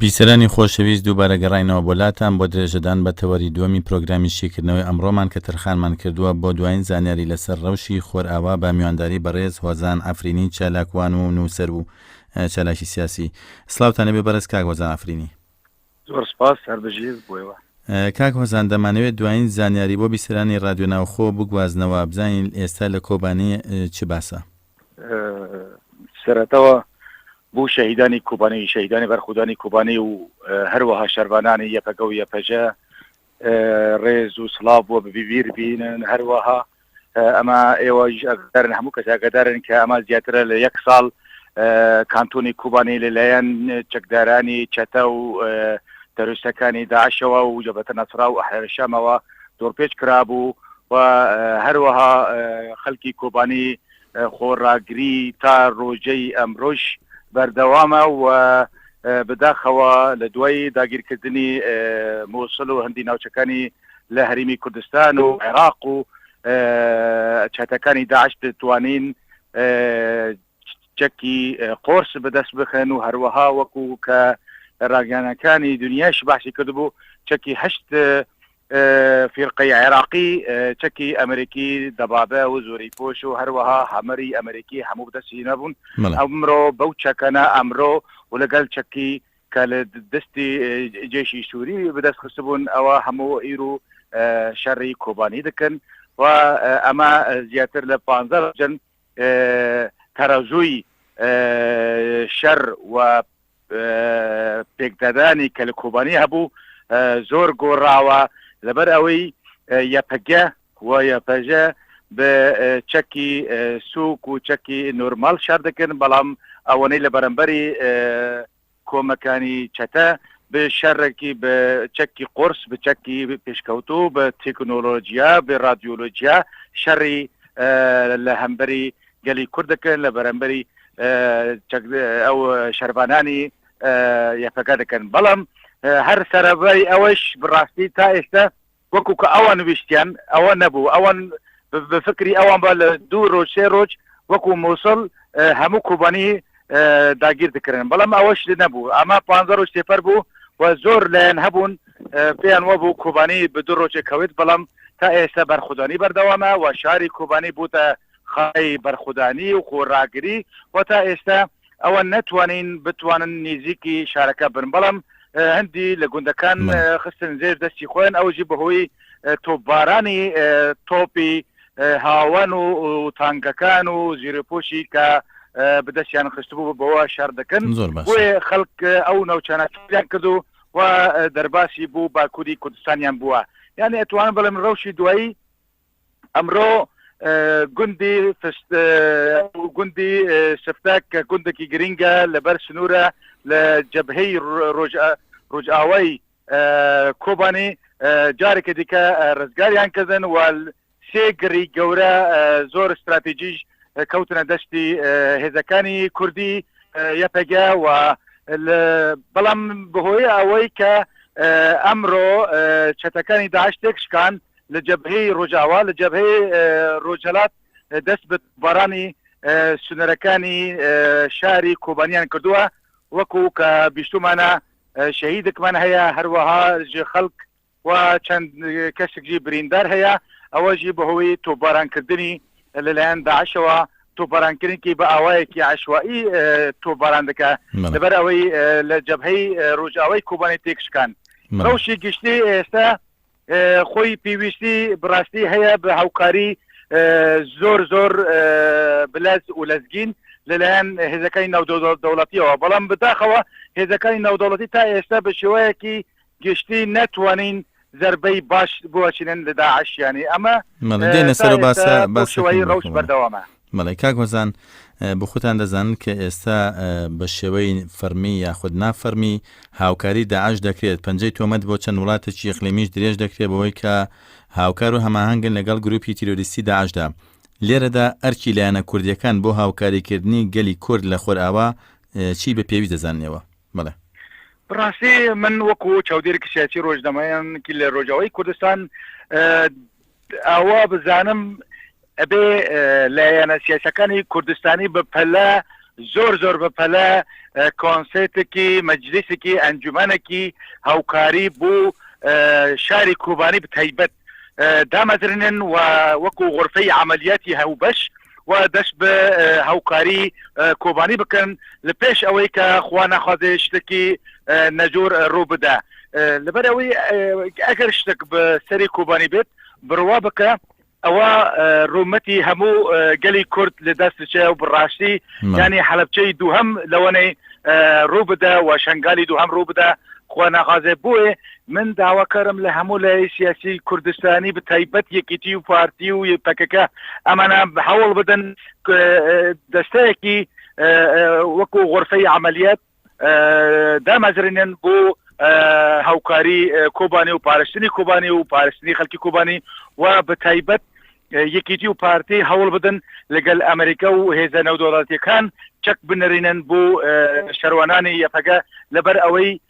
بیسەرانی خۆشەویست دووبارە گەڕینەوە بۆ لاتان بۆ درێژەدان بە تەوەری دووەمی پرۆگرامی شیکردنەوەی ئەمڕۆمان کە تەرخانمان کردووە بۆ دوایین زانیاری لەسەر ڕەوشی خۆرئاوا بە میوانداری بەڕێز هۆزان ئەفرینی چالاکوان و نووسەر و چالاکی سیاسی سلااوانە بێ بەرز کاک هۆزان ئەفرینی زۆر سپاس هەر بژیت بۆیوە. کاک هۆزان دەمانەوێت دوایین زانیاری بۆ بیسەرانی ڕادیۆ ناوخۆ بگوازنەوە بزانین ئێستا لە کۆبانی چ باسە؟ سەرەتەوە بۆ شەهیدانی کوبانی شەهیدانی بەرخودانی کوبانی و هەروەها شەربانانی یەپەگە و یەپەژە ڕێز و سڵاو بۆ ببی بیر بینن هەروەها ئەمە ئێوەش ئەگەرن هەموو کەس ئەگەدارن کە ئەمە زیاترە لە یەک ساڵ کانتۆنی کوبانی لەلایەن چەکدارانی چەتە و تەروستەکانی داعشەوە و جەبەتە نەسرا و ئەحرشەمەوە دۆرپێچ کرابوو و هەروەها خەلکی کۆبانی خۆڕاگری تا ڕۆژەی ئەمرۆژ بەردەوامە و بەداخەوە لە دوای داگیرکردنی مۆسل و هەندی ناوچەکانی لە هەرمی کوردستان و عێراق و چەتەکانی داعش دەتوانین چەکی قۆرس بەدەست بخەن و هەروەها وەکو کە ڕاگەانەکانی دنیاش باسی کردبوو چەکی هەشت فیرقەی عێراقی چەکی ئەمریکی دەبابە و زۆری پۆش و هەروەها هەمەری ئەمریکی هەموو بدەسی نەبوون ئەمرۆ بەو چەکەنە ئەمرۆ و لەگەل چەکی کە لە دەستی جێشی سووری بدەست خستبوون ئەوە هەموو ئیر و شەڕی کۆبانی دکن و ئەمە زیاتر لە پانزە جن تەرەزووی شەر و پێکدادانی کە لە کۆبانی هەبوو زۆر گۆڕاوە لەبەر ئەوەی یەپەگە و یەپەژە بە چەکی سوک و چەکی نۆرمال شار دەکەن بەڵام ئەوەنەی لە بەرەمبەری کۆمەکانی چەتە بێ شەرەکی بە چەکی قۆرس بە چەکی پێشکەوتو بە تەکنۆلۆژیا بێ رادیۆلۆژیا شەڕی لە هەمبەری گەلی کورد دەکەن لە بەرەمبەری ئەو شەربانانی یەپەکە دەکەن بەڵام هەر سەرەبای ئەوەش بڕاستی تا ئێستا وەکو کە ئەوان ویستیان ئەوە نەبوو ئەوان بە فکری ئەوان با لە دوو ڕۆژ سێ ڕۆژ وەکو موسڵ هەموو کوبانی داگیر دکرن بەڵام ئەوەش نەبوو ئەمە پ ڕۆژ تێپەر بوو و زۆر لایەن هەبوون پێیان وەبوو کوبانی بە دوو ڕۆژێک کەوت بەڵام تا ئێستا بەرخودانی بەردەوامە و شاری کوبانی بووتە خای بەرخودانی و خۆراگری و تا ئێستا ئەوان نەتوانین بتوانن نیزیکی شارەکە بن بەڵام هەندی لە گوندەکان خستن زێر دەستی خۆیان ئەوژی بەهۆی تۆبارانی تۆپی هاوان و تانگەکان و زیرەپۆشی کە بدەستیان خستبوو بەوە شار دەکەن زۆر خەڵک ئەو ناوچانە کرد و و دەرباسی بوو باکووری کوردستانیان بووە یعنی ئەتوان بڵێم ڕەوشی دوایی ئەمڕۆ گوندی فشت گوندی شفتە کە گوندێکی گرنگە لەبەر سنوورە لە جەبهەی ڕۆژئاوای کۆبانی جارێکی دیکە ڕزگاریان کردن و سێ گڕی گەورە زۆر استراتیژیش کەوتنە دەستی هێزەکانی کوردی یەپەگە و بەڵام بەهۆی ئەوەی کە ئەمڕۆ چەتەکانی داعش تێکشکان لە جەبهەی ڕۆژاوا لە جەبهەی ڕۆژهەلات دەست بە بارانی سنوورەکانی شاری کۆبانیان کردووە وەکو کە بیستمانە شەهیدێکمان هەیە هەروەها خەڵک و چەند کەسێکی بریندار هەیە ئەوەژی بەهۆی تۆبارانکردنی لەلایەن داعشەوە تۆبارانکردنکی بە ئاوایەکی عشوایی تۆباران دەکە لەبەر ئەوەی لە جەبهەی ڕۆژاوای کۆبانی تێکشکان ڕەوشی گشتی ئێستا خۆی پێویستی بڕاستی هەیە بە هاوکاری زۆر زۆر بلەز و لەزگین لەلایەن هێزەکانی ناودەوڵەت دەوڵەتیەوە بەڵام بداخەوە هێزەکانی ناودەوڵەتی تا ئێستا بە شێوەیەکی گشتی ناتوانین زربەی باش بۆچینن لە داعشیانی ئەمە دێنە سەر باسە بەشوەی ڕوش بەردەوامە بەڵێ کاک هۆزان بخوتان دەزانن کە ئێستا بە شێوەی فەرمی یاخود نافەرمی هاوکاری داعش دەکرێت پەنجەی تۆمەت بۆ چەند وڵاتێکی یقلیمیش درێژ دەکرێت بەوەی کە هاوکار و هەماهنگن لەگەڵ گروپی تیرۆریستی داعشدا لێرەدا ئەرکی لایەنە کوردیەکان بۆ هاوکاریکردنی گەلی کورد لە خۆرئاوا چی بە پێویست دەزاننەوە بڵێ بڕاستی من وەکو چاودێرێکی سیاسی ڕۆژنامەیانکی لە ڕۆژاوای کوردستان ئەوە بزانم ئەبێ لایەنە سیاسەکانی کوردستانی بە پەلە زۆر زۆر بە پەلە کۆنسێتێکی مەجلیسێکی ئەنجومەنێکی هاوکاری بۆ شاری کوبانی بتیبەت دامەزرنن و وەکو غرفەی عملیاتی هەوبەش و دەست بە هاوکاری کۆبانی بکەن لە پێش ئەوەی کە خوا ناخوازێ شتێکی نەجۆر ڕوو بدا لەبەر ئەوەی ئەگەر شتێک بە سەری کۆبانی بێت بڕوا بکە ئەوە ڕوومەتی هەموو گەلی کورد لە دەستچێ و بڕاستی ینی حەلبچەی دووهم لەوەنەی ڕوو بدە و شنگالی دووهم ڕوو بدە خۆ ناخوازێ بووێ من داواکارم لە هەموو لایەی سیاسی کوردستانی بە تایبەت یەکیتی و پارتی و پەکەکە ئەمانە هەوڵ بدەن دەستەیەکی وەکو غرفەی عملیات دامەزرێنن بۆ هاوکاری کۆبانی و پارستنی کۆبانی و پارستنی خەلکی کۆبانی و بە تایبەت یەکیتی و پارتی هەوڵ بدەن لەگەل ئەمریکا و هێزە نەودۆڵاتەکان چەک بنرینن بۆ شەروانانی یەپەگە لەبەر ئەوەی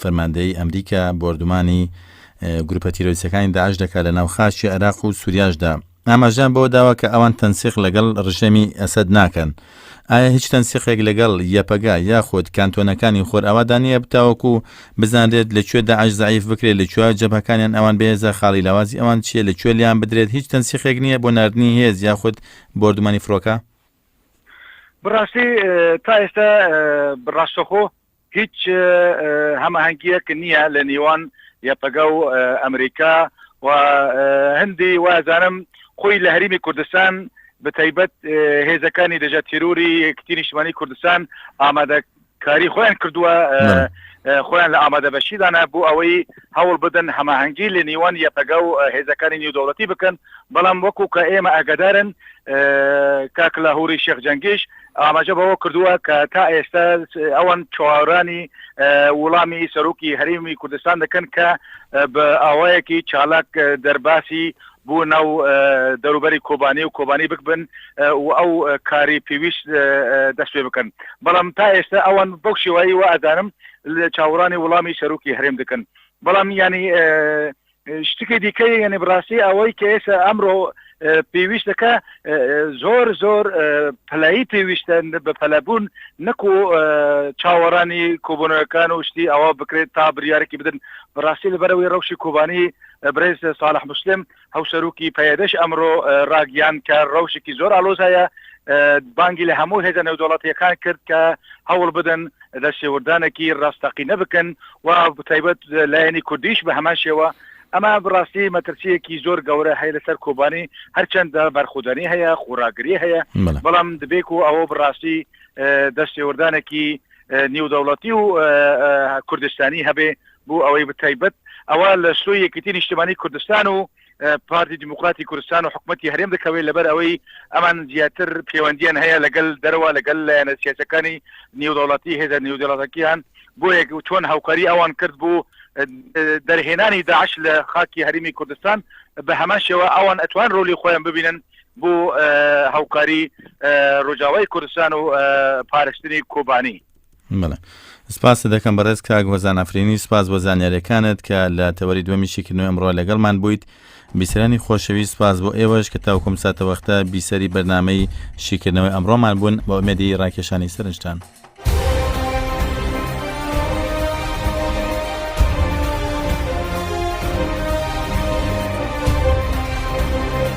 فەرماندەیی ئەمریکا بۆردومانی گروپە تیرۆریستەکانی داعش دەکات لە ناو خاکی عێراق و سوریاشدا ئاماژیان بەوە داوە کە ئەوان تەنسیق لەگەڵ ڕژێمی ئەسەد ناکەن ئایا هیچ تەنسیقێک لەگەڵ یەپەگە یاخود کانتۆنەکانی خۆرئاوادا نییە بتاوەکو بزانرێت لە کوێ داعش زعیف بکرێت لە کوێ جەبهەکانیان ئەوان بەهێزە خاڵی لاوازی ئەوان چییە لە کوێ لیان بدرێت هیچ تەنسیقێک نییە بۆ ناردنی هێز یاخود بۆردومانی فڕۆکە بڕاستی تا ئێستا بڕاستەخۆ هیچ هەمەهەنگیەک نیە لە نیوان یەپەگە و ئەمریکا و هندی وازانم خۆی لە هەریمی کوردستان بەتایبەت هێزەکانی دژە تیروری کتی نیشتمانی کوردستان ئامادە کاری خۆیان کردووە خۆیان لە ئامادە بەشیدانە بۆ ئەوەی هەوڵ بدەن هەماهەنگی لە نیوان یەپەگە و هێزەکانی نیو دەوڵەتی بکەن بەڵام وەکو کە ئێمە ئەگەدارن کاکلا هوری شێخ جەنگیش ئاماژە بەوە کردووە کە تا ئێستا ئەوان چاوەڕوانی وڵامی سەرۆکی هەرێمی کوردستان دەکەن کە بە ئاوایەکی چالاک دەرباسی بۆ ناو دەروبەری کۆبانی و کۆبانی بکبن و ئەو کاری پێویست دەست پێ بکەن بەڵام تا ئێستا ئەوان بەو شێوایی و ئازانم لە چاوەڕانی وڵامی سەرۆکی هەرێم دەکەن بەڵام ینی شتکی دیکە یعنی بڕاستی ئەوەی کە ئێستا ئەمڕۆ پێویستەکە زۆر زۆر پلایی پێویستە بە پەلەبوون نەکو چاوەڕانی کۆبنەوەکان و شتی ئەوە بکرێت تا بریارێکی بدن بەڕاستی لەبەرەوەی ڕەوشی کۆبانی برێز ساڵح مسلم هەوسەرروکی پەیەدەش ئەمڕۆ ڕاگیان کە ڕەوشێکی زۆر ئالۆزایە بانگی لە هەموو هێزە نێودوڵاتیەکان کرد کە هەوڵ بدەن لە شێوردانەکی ڕاستەقینە بکەن و بەتایبەت لایەنی کوردیش بە هەمان شێوە، ئەمە بڕاستی مەترسیەکی زۆر گەورە هەیە لەسەر کۆبانی هەرچەندە بەرخودانی هەیە خوراگری هەیە بەڵام دبێک و ئەوە بڕاستی دەستێوردانێکی نیودەوڵەتی و کوردستانی هەبێ بۆ ئەوەی بتایبەت ئەوە لە شوی یەکیتی نیشتمانی کوردستان و پارتی دیموکراتی کوردستان و حکوومەتتی هەرێم دەکەوێت لەبەر ئەوەی ئەمان زیاتر پەیوەندیان هەیە لەگەل دەرەوە لەگەل لایەنە سیاسەکانی نێودەوڵەتی هێزە نێودەڵەتەکییان بۆ یەک چۆن هاوکاری ئەوان کرد بوو دەرهێنانی داعش لە خاکی هەرمی کوردستان بە هەمان شێوە ئەوان ئەتوان ڕۆلی خۆیان ببینن بۆ هاوکاری ڕۆژاوای کوردستان و پارشتنی کۆبانی بەڵێ سپاست دەکەم بەڕێز کاک هۆزان ئەفرینی سپاس بۆ زانیارەکانت کە لە تەوەری دومی شیکردنەوە ئەمڕۆ لەگەڵمان بوویت بیسەرانی خۆشەوی سپاس بۆ ئێوەش کە تاوکم ساتە وەختە بیسەری بەرنمەی شیکردنەوەی ئەمڕۆمان بوون بۆ ئەمەدی ڕاکێشانی سەرنجتان.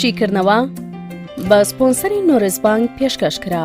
شیکردنەوە بە سپۆنسەری نۆرزبانگ پێشکەش کرا.